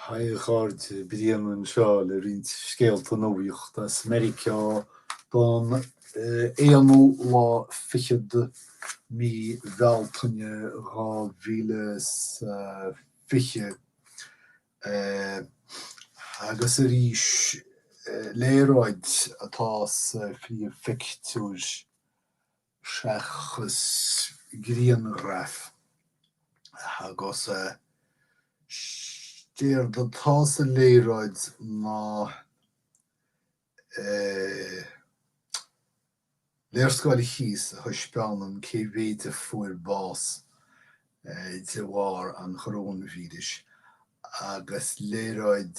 Haigh a chairde, Brian anseo le roinnt scéalta nuachta as Meiriceá don aonú lá fichead mí Bhealtaine dhá mhíle is fiche. Agus arís léaráid atá sa phríomhphictiúr. seachas grianghraf agus is éard atá sa léaráid ná eh léarscáil thíos a thaispeánann cé mhéid a fuair bás de bharr an choróinvíris agus léaráid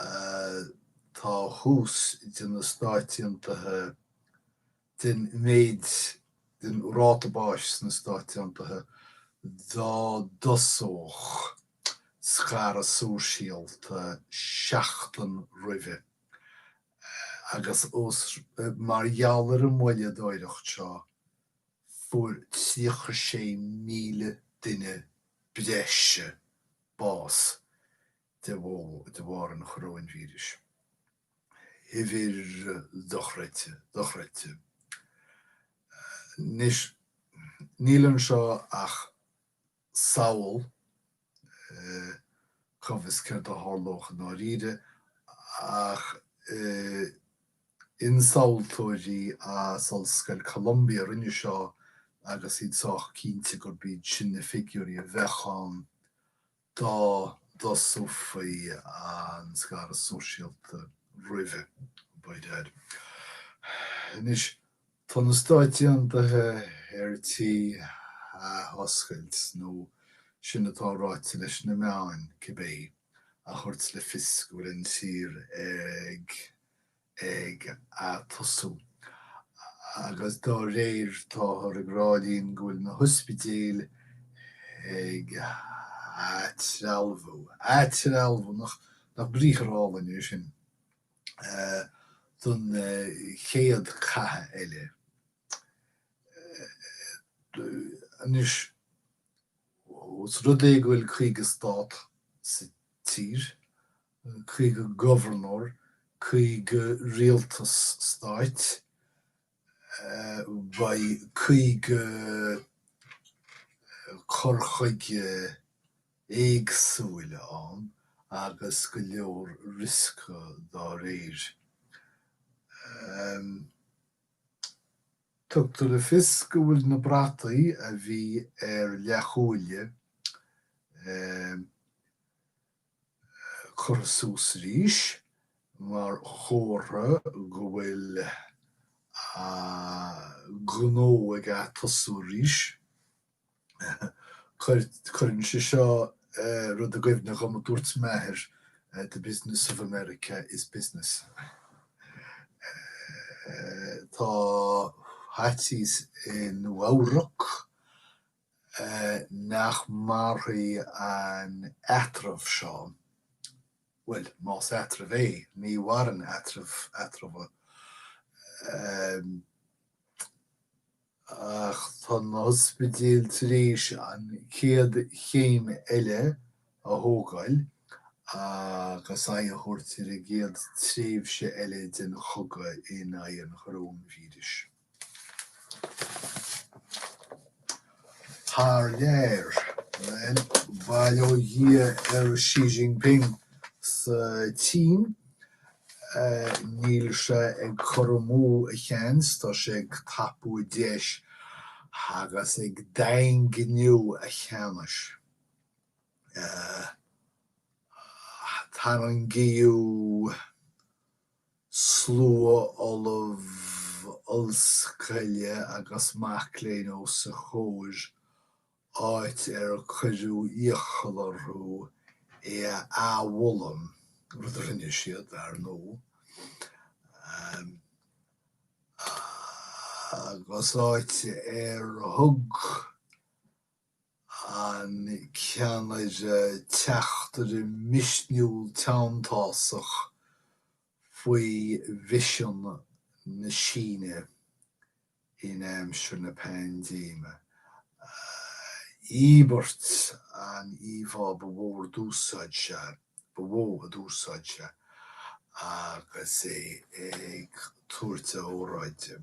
atá thuas de na Stáit Aontaithe den mhéid den ráta báis sna Stáit Aontaithe dá dtosódh scaradh sóisialta seachtain roimhe agus is mar gheall ar an mhoilleadóireacht seo fuair 36,000 duine breise bás de bharr an choróinvíris. uimhir dochreidte, dochreidte. Anois, níl anseo ach samhail cá bhfios céard a tharlódh i ndáiríre, ach ionsamhaltóirí as Ollscoil Columbia a rinne seo agus iad sách cinnte gurb iad sin na figiúirí a bheadh ann dá dtosófaí an scaradh sóisialta roimhe, b'fhéidir. Anois tá na Stáit Aontaithe ar tí athoscailt, nó sin atá ráite leis na meáin cibé, a thabhairt le fios go bhfuil an tír ag ag atosú agus dá réir táthar ag rá linn go bhfuil na hospidéil ag athrealmhú, athrealmhú, nach briathar álainn é sin? don chéad cath eile. Anois, os rud é go bhfuil 50 stát sa tír, caoga gobharnóir, caoga rialtas stáit, beidh caoga cur chuige éagsúil ann agus go leor rioscaí dá réir. Tugtar le fios go bhfuil na brataí a bhí ar leathfholuain curtha suas arís mar chomhartha go bhfuil gnó ag atosú arís. Cuireann sé seo rud i gcuimhne dhom a dúirt m'athair, the business of America is business. Tá faitíos i Nua-Eabhrac nach mairfidh an t-eatramh seo, bhuel, más eatramh é, ní mhaireann eatraimh, eatramha, ach tá na hospidéil tar éis an chéad chéim eile a thógáil agus aghaidh a thabhairt ar an gcéad tréimhse eile den chogadh in aghaidh an choróinvíris. Thar lear, bhuel, bail ó Dhia ar Xi Jinping sa tSín, níl sé ag cur amú a sheans, tá sé ag tapú a dheis agus ag daingniú a cheannais. Tarraingíodh. Slua ollamh ollscoile agus mac léinn os a chomhair, áit ar cuireadh iachall orthu é a adhmholadh, rud a rinne siad, ar ndóigh, agus áit ar thug an ceannaire teachtaireacht misniúil teanntásach faoi vision na Síne in aimsir na paindéime Íobairt an íomhá ba mhó a d'úsáid sé ba mhó a d'úsáid sé agus é ag tabhairt a óráide.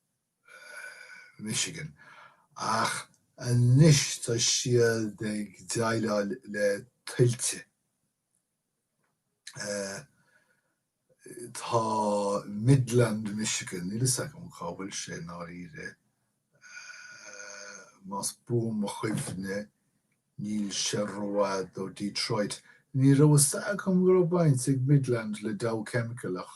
Michigan, ach anois tá siad ag déileáil le tuilte. Tá Midland, Michigan, níl a fhios agam cá bhfuil sé i ndáiríre, más buan mo chuimhne níl sé rófhada ó Detroit. Ní raibh a fhios agam go raibh baint ag Midland le Dow Chemical ach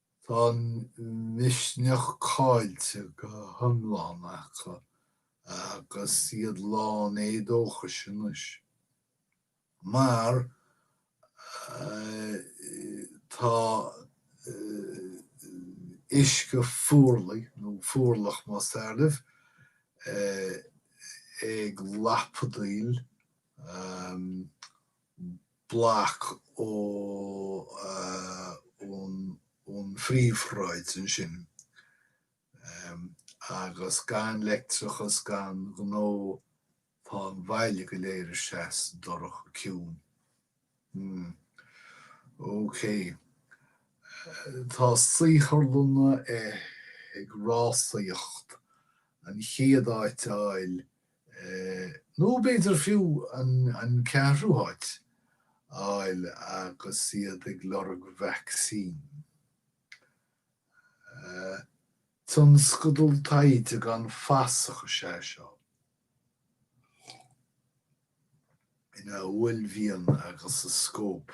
Tá an misneach caillte go hiomlán acu agus iad lán éadóchais anois, mar tá uisce fuarlaigh, nó fuarlach más fearr libh, ag lapadaíl bloc ó ón phríomhshráid ansin agus gan leictreachas gan gnó tá an bhaile go léir thíos dorcha ciúin. Hmm. OK. Tá saotharlanna ag rásaíocht chun an chéad áit a fháil nó b'fhéidir fiú an ceathrú háit, a fháil agus iad ag lorg vacsaín. Tionscadal taighde gan fasach is ea seo, ina uaillmhian agus a scóip.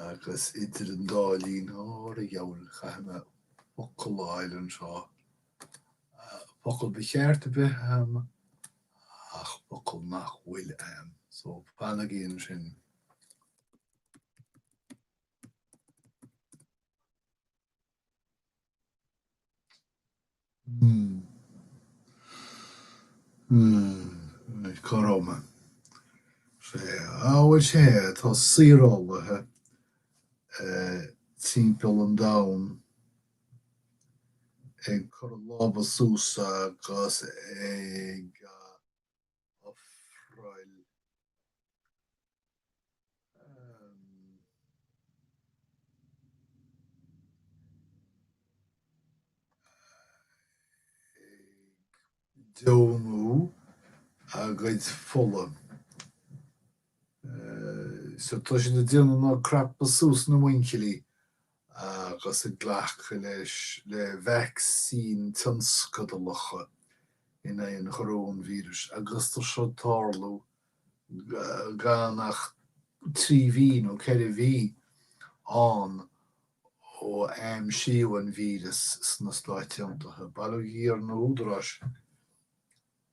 Agus idir an dá linn, fear a gheall, caithfidh mé focal a fháil anseo. Focal ba cheart a bheith a'm ach focal nach bhfuil a'm. So fanaigí ansin. Tá saorálaithe timpeall an domhain ag cur a lámha suas agus ag. ofráil deonú a gcuid fola. So tá siad ag déanamh ná crapadh suas na muinchillí agus ag glacadh leis le vacsaíní tionscadalacha in aghaidh an choróinvíris agus tá seo ag tarlú gan ach trí mhí nó ceithre mhí ón am a aimsíodh an víreas sna Stáit Aontaithe. Bailíodh iar na húdaráis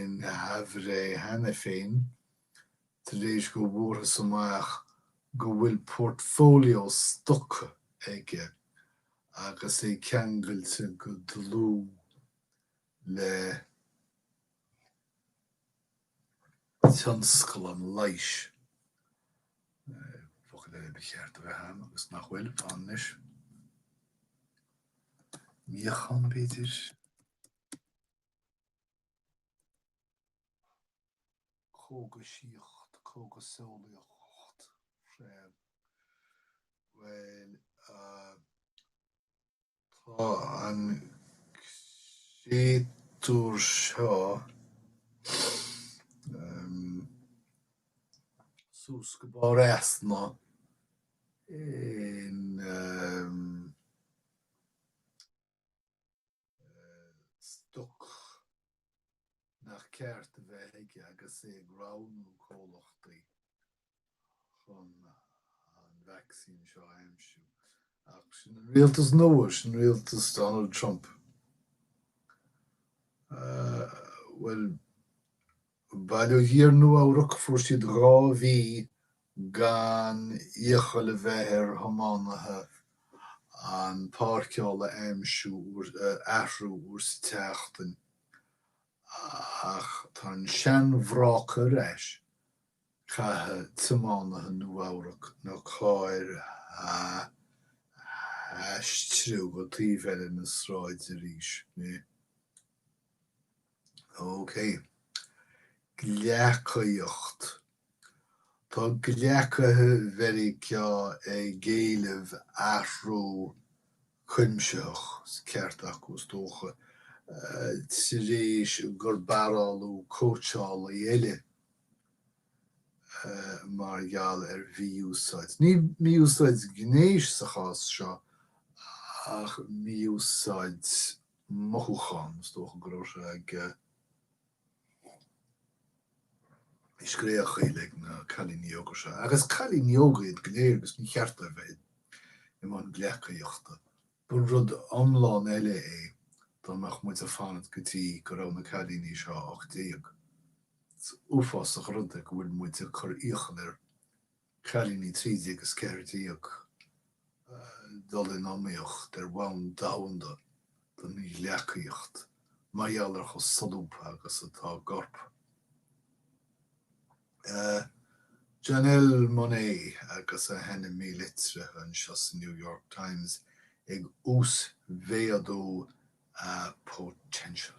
in aimhréidh cheana féin tar éis go bhfuarthas amach go bhfuil portfolio stoca aige agus é ceangailte go dlúth le tionscal an leighis, focal eile, ba cheart a bheith ann agus nach bhfuil, anois, míochaine b'fhéidir? cógaisíocht, cógaseolaíocht freisin. Bhuel, tá an créatúr seo suas go barra easna in. stoc nach ceart a bheith aige agus é ag roghnú comhlachtaí chun an vacsaín seo a aimsiú. Ach sin an rialtas nua, sin rialtas Donald Trump. Bhuel, Baile thiar, Nua-Eabhrac, fuair siad dhá mhí gan iachall a bheith ar thiománaithe a bpáirceáil a aimsiú, athrú uair sa tseachtain, ach tá an seanbhráca ar ais, caithfidh tiománaithe Nua-Eabhrac na cairr a aistriú go taobh eile na sráide arís. OK. Gleacaíocht Tá gleacaithe Mheiriceá ag éileamh athrú cuimsitheach, is an ceart acu is dócha, tar éis gur barálladh cóitseálaí eile mar gheall ar mhí-úsáid, ní mí-úsáid gnéis sa chás seo, ach mí-úsáid mothúchán. Is dócha go raibh sé ag scréachaíl ar na cailíní óga seo. Agus cailíní óga iad go léir agus ní ceart dóibh bheith i mbun gleacaíochta. Ba rud iomlán eile é dá mbeadh muid ag fanacht go dtí go raibh na cailíní seo 18. Is uafásach an rud go bhfuil muid ag cur iachall ar cailíní 13 is 14 dul in iomaíocht ar bhonn domhanda don ghleacaíocht eh mar gheall ar chomh solúbtha agus atá a gcorp eh. Janelle Monáe agus a hainm mílitrithe anseo sa New York Times ag uasmhéadú a potential.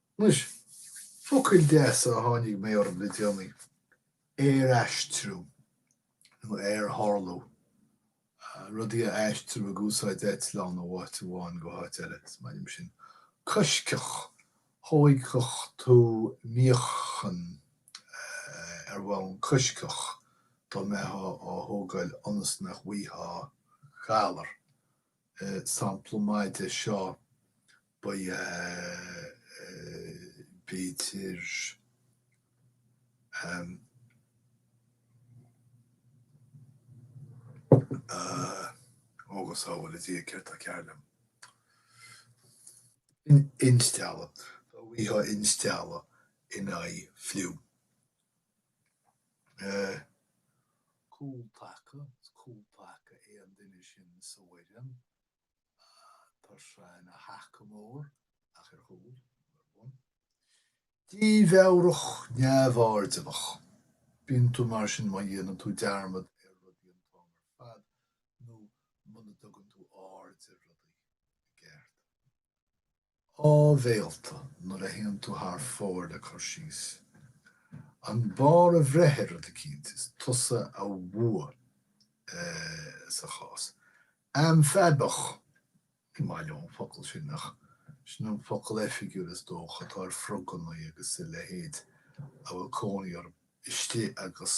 Anois, focail deasa a tháinig mé orthu le déanaí, aeraistriú nó aertharlú, rudaí a aistriú ag úsáid eitleán ó áit go háit eile, is maith liom sin. Coisctheach, thógfadh tú míochaine ar bhonn coisctheach dá mbeifeá á thógáil ionas nach bhfaightheá galar. sampla maith de seo ab ea b'fhéidir um agus ó bhuel a Dhia céard tá cearr liom? instealladh, gheofá instealladh in aghaidh fliú. Cúl taca, is cúl taca é an duine sin sa bhfoireann. Tá sé ina thaca mór ach ar chúl. Dímheabhrach, neamhairdiúlach. Bíonn tú mar sin má dhéanann tú dearmad ar rudaí an t-am ar fad nó muna dtugann tú aird ar rudaí i gceart. áibhéalta nuair a théann tú thar fóir le cur síos, an barr a bhreith ar rud eicínt, is tusa a bhuaigh sa chás. Amfaibiach, ní maith liom an focal sin ach sin an focal oifigiúil is dócha atá ar frogannaí agus a leithéid a bhfuil cónaí orthu istigh agus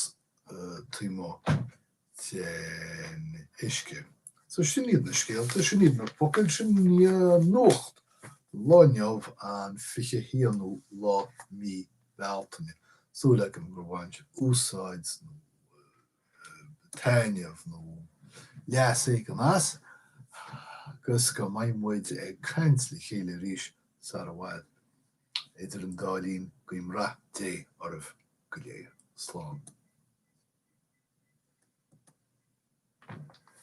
taobh amuigh den uisce. So sin iad na scéalta, sin iad na focail, sin iad an nuacht don lá inniu an 21ú lá de mhí Bealtaine. Súil agam gur bhain tú úsáid nó taitneamh nó leas éigin as agus go mbeidh muid ag caint le chéile arís sara bhfad. Idir an dá linn, guím rath Dé oraibh go léir. Slán.